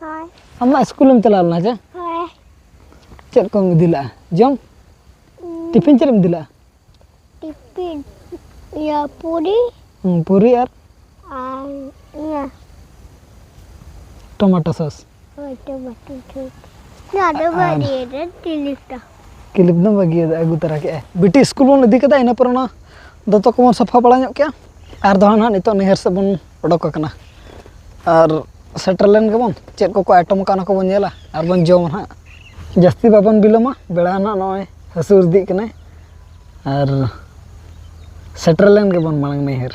ᱦᱳᱭ ᱟᱢ ᱢᱟ ᱥᱠᱩᱞᱮᱢ ᱪᱟᱞᱟᱣ ᱞᱮᱱᱟ ᱪᱮ ᱦᱳᱭ ᱪᱮᱫ ᱠᱚᱢ ᱤᱫᱤ ᱞᱮᱜᱼᱟ ᱡᱚᱢ ᱴᱤᱯᱷᱤᱱ ᱪᱮᱫ ᱮᱢ ᱤᱫᱤ ᱞᱮᱜᱼᱟ ᱴᱤᱯᱤᱱ ᱤᱭᱟᱹ ᱯᱩᱨᱤ ᱦᱩᱸ, ᱯᱩᱨᱤ ᱟᱨ ᱟᱨ ᱤᱭᱟᱹ ᱴᱚᱢᱟᱴᱳ ᱥᱚᱥ ᱦᱳᱭ ᱴᱚᱢᱟᱴᱳ ᱴᱷᱤᱠ ᱱᱚᱣᱟ ᱫᱚ ᱵᱟᱹᱲᱤᱡ ᱨᱮ ᱛᱤᱞᱤᱯ ᱫᱚ ᱠᱤᱞᱤᱯ ᱫᱚ ᱵᱟᱹᱜᱤ ᱟᱹᱜᱩ ᱛᱚᱨᱟ ᱠᱮᱜᱼᱟ ᱵᱤᱴᱤ ᱥᱠᱩᱞ ᱵᱚᱱ ᱤᱫᱤ ᱠᱮᱫᱟ ᱤᱱᱟᱹ ᱯᱚᱨᱮ ᱚᱱᱟ ᱫᱚᱛᱚ ᱠᱚᱵᱚᱱ ᱥᱟᱯᱷᱟ ᱵᱟᱲᱟ ᱧᱚᱜ ᱠᱮᱜᱼᱟ ᱟᱨ ᱫᱚ ᱱᱟᱦᱟᱜ ᱱᱤᱛᱚᱜ ᱱᱟᱹᱭᱦᱟᱹᱨ ᱥᱮᱫ ᱵᱚᱱ ᱚᱰᱚᱠ ᱟᱠᱟᱱᱟ ᱟᱨ ᱥᱮᱴᱮᱨ ᱞᱮᱱ ᱜᱮᱵᱚᱱ ᱪᱮᱫ ᱠᱚᱠᱚ ᱟᱭᱴᱚᱢ ᱟᱠᱟᱫ ᱚᱱᱟ ᱠᱚᱵᱚᱱ ᱧᱮᱞᱟ ᱟᱨ ᱵᱚᱱ ᱡᱚᱢᱟ ᱦᱟᱸᱜ ᱡᱟᱹᱥᱛᱤ ᱵᱟᱵᱚᱱ ᱵᱤᱞᱚᱢᱟ ᱵᱮᱲᱟ ᱦᱟᱸᱜ ᱱᱚᱜᱼᱚᱭ ᱦᱟᱹᱥᱩᱨ ᱤᱫᱤᱜ ᱠᱟᱱᱟᱭ ᱟᱨ ᱥᱮᱴᱮᱨ ᱞᱮᱱ ᱜᱮᱵᱚᱱ ᱢᱟᱲᱟᱝ ᱱᱟᱹᱭᱦᱟᱹᱨ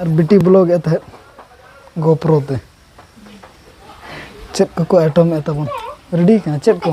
ᱟᱨ ᱵᱤᱴᱤ ᱵᱞᱚᱜ ᱮᱫ ᱛᱟᱦᱮᱸᱫ ᱜᱳᱯᱨᱳ ᱛᱮ ᱪᱮᱫ ᱠᱚᱠᱚ ᱟᱭᱴᱚᱢ ᱮᱫ ᱛᱟᱵᱚᱱ ᱨᱮᱰᱤ ᱠᱟᱱᱟ ᱪᱮᱫ ᱠᱚ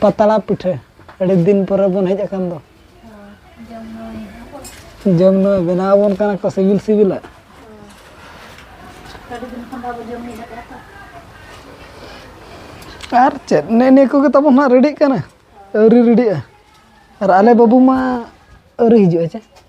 ᱯᱟᱛᱲᱟ ᱯᱤᱴᱷᱟᱹ ᱟᱹᱰᱤ ᱫᱤᱱ ᱯᱚᱨᱮ ᱵᱚᱱ ᱦᱮᱡ ᱟᱠᱟᱱ ᱫᱚ ᱡᱚᱢ ᱧᱩ ᱵᱮᱱᱟᱣ ᱟᱵᱚᱱ ᱠᱟᱱᱟ ᱠᱚ ᱥᱤᱵᱤᱞ ᱥᱤᱵᱤᱞᱟᱜ ᱟᱨ ᱪᱮᱫ ᱱᱮ ᱱᱤᱭᱟᱹ ᱠᱚᱜᱮ ᱛᱟᱵᱚᱱ ᱦᱟᱸᱜ ᱨᱮᱰᱤᱜ ᱠᱟᱱᱟ ᱟᱹᱣᱨᱤ ᱨᱮᱰᱤᱜᱼᱟ ᱟᱨ ᱟᱞᱮ ᱵᱟᱹᱵᱩ ᱢᱟ ᱟᱹᱣᱨᱤ ᱦᱤᱡᱩᱜᱼᱟ ᱪᱮ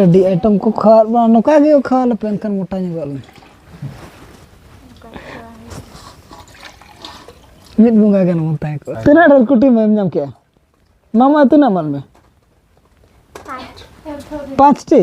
ᱟᱹᱰᱤ ᱟᱭᱴᱮᱢ ᱠᱚ ᱠᱷᱟᱣᱟᱣ ᱵᱟᱝ ᱱᱚᱝᱠᱟ ᱜᱮ ᱠᱷᱟᱣᱟᱣ ᱞᱮᱯᱮ ᱮᱱᱠᱷᱟᱱ ᱢᱚᱴᱟ ᱧᱚᱜᱚᱜ ᱟᱞᱮ ᱢᱤᱫ ᱵᱚᱸᱜᱟ ᱜᱟᱱ ᱵᱚᱱ ᱛᱟᱦᱮᱸ ᱠᱚᱜᱼᱟ ᱛᱤᱱᱟᱹᱜ ᱰᱷᱮᱨ ᱠᱩᱴᱤ ᱮᱢ ᱧᱟᱢ ᱠᱮᱜᱼᱟ ᱢᱟᱢᱟ ᱛᱤᱱᱟᱹᱜ ᱮᱢᱟᱫ ᱢᱮ ᱯᱟᱸᱪᱴᱤ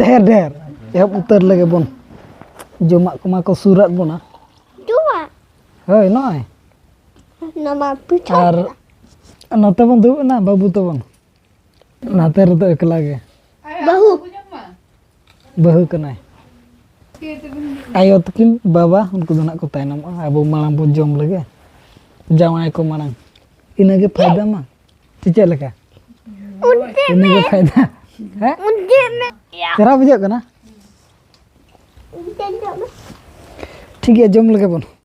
ᱰᱷᱮᱨ ᱰᱷᱮᱨ ᱮᱦᱚᱵ ᱩᱛᱟᱹᱨ ᱞᱮᱜᱮ ᱵᱚᱱ ᱡᱚᱢᱟᱜ ᱠᱚᱢᱟ ᱠᱚ ᱥᱩᱨᱟᱫ ᱵᱚᱱᱟ ᱡᱚᱢᱟᱜ ᱦᱳᱭ ᱱᱚᱜᱼᱚᱭ ᱱᱚᱣᱟ ᱯᱤᱴᱷᱟᱹ ᱟᱨ ᱱᱚᱛᱮ ᱵᱚᱱ ᱫᱩᱲᱩᱵ ᱮᱱᱟ ᱵᱟᱹᱵᱩ ᱛᱟᱵᱚᱱ ᱱᱟᱛᱮ ᱨᱮᱫᱚ ᱮᱠᱞᱟ ᱜᱮ ᱵᱟᱹᱦᱩ ᱵᱟᱹᱦᱩ ᱠᱟᱱᱟᱭ ᱟᱭᱳ ᱛᱟᱹᱠᱤᱱ ᱵᱟᱵᱟ ᱩᱱᱠᱩ ᱫᱚ ᱱᱟᱜ ᱠᱚ ᱛᱟᱭᱱᱚᱢᱚᱜᱼᱟ ᱟᱵᱚ ᱢᱟᱲᱟᱝ ᱵᱚᱱ ᱡᱚᱢ ᱞᱮᱜᱮ ᱡᱟᱶᱟᱭ ᱠᱚ ᱢᱟᱲᱟᱝ ᱤᱱᱟᱹᱜᱮ ᱯᱷᱟᱭᱫᱟ ᱢᱟ ᱥᱮ ᱪᱮᱫ ᱞᱮᱠᱟ ᱤᱱᱟᱹᱜᱮ ᱯᱷᱟᱭᱫᱟ ᱦᱮᱸ ᱪᱮᱦᱨᱟ ᱵᱩᱡᱷᱟᱹᱜ ᱠᱟᱱᱟ ᱴᱷᱤᱠ ᱜᱮᱭᱟ ᱡᱚᱢ ᱞᱮᱜᱮ ᱵᱚᱱ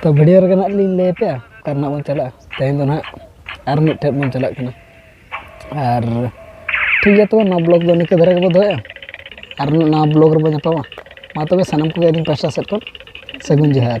ᱛᱚ ᱵᱷᱤᱰᱤᱭᱳ ᱨᱮᱜᱮ ᱱᱟᱜ ᱞᱤᱧ ᱞᱟᱹᱭ ᱟᱯᱮᱭᱟ ᱚᱠᱟ ᱨᱮᱱᱟᱜ ᱵᱚᱱ ᱪᱟᱞᱟᱜᱼᱟ ᱛᱮᱦᱮᱧ ᱫᱚ ᱱᱟᱜ ᱟᱨ ᱢᱤᱫᱴᱮᱡ ᱵᱚᱱ ᱪᱟᱞᱟᱜ ᱠᱟᱱᱟ ᱟᱨ ᱴᱷᱤᱠ ᱜᱮᱭᱟ ᱛᱚᱵᱮ ᱱᱚᱣᱟ ᱵᱞᱚᱜᱽ ᱫᱚ ᱱᱤᱝᱠᱟᱹ ᱫᱷᱟᱨᱟ ᱜᱮᱵᱚ ᱫᱚᱦᱚᱭᱟ ᱟᱨ ᱱᱚᱣᱟ ᱵᱞᱚᱜᱽ ᱨᱮᱵᱚ ᱧᱟᱯᱟᱢᱟ ᱢᱟ ᱛᱚᱵᱮ ᱥᱟᱱᱟᱢ ᱠᱚᱜᱮ ᱟᱹᱞᱤᱧ ᱯᱟᱥᱴᱟ ᱥᱮᱫ ᱠᱷᱚᱱ ᱥᱟᱹᱜᱩᱱ ᱡᱚᱦᱟᱨ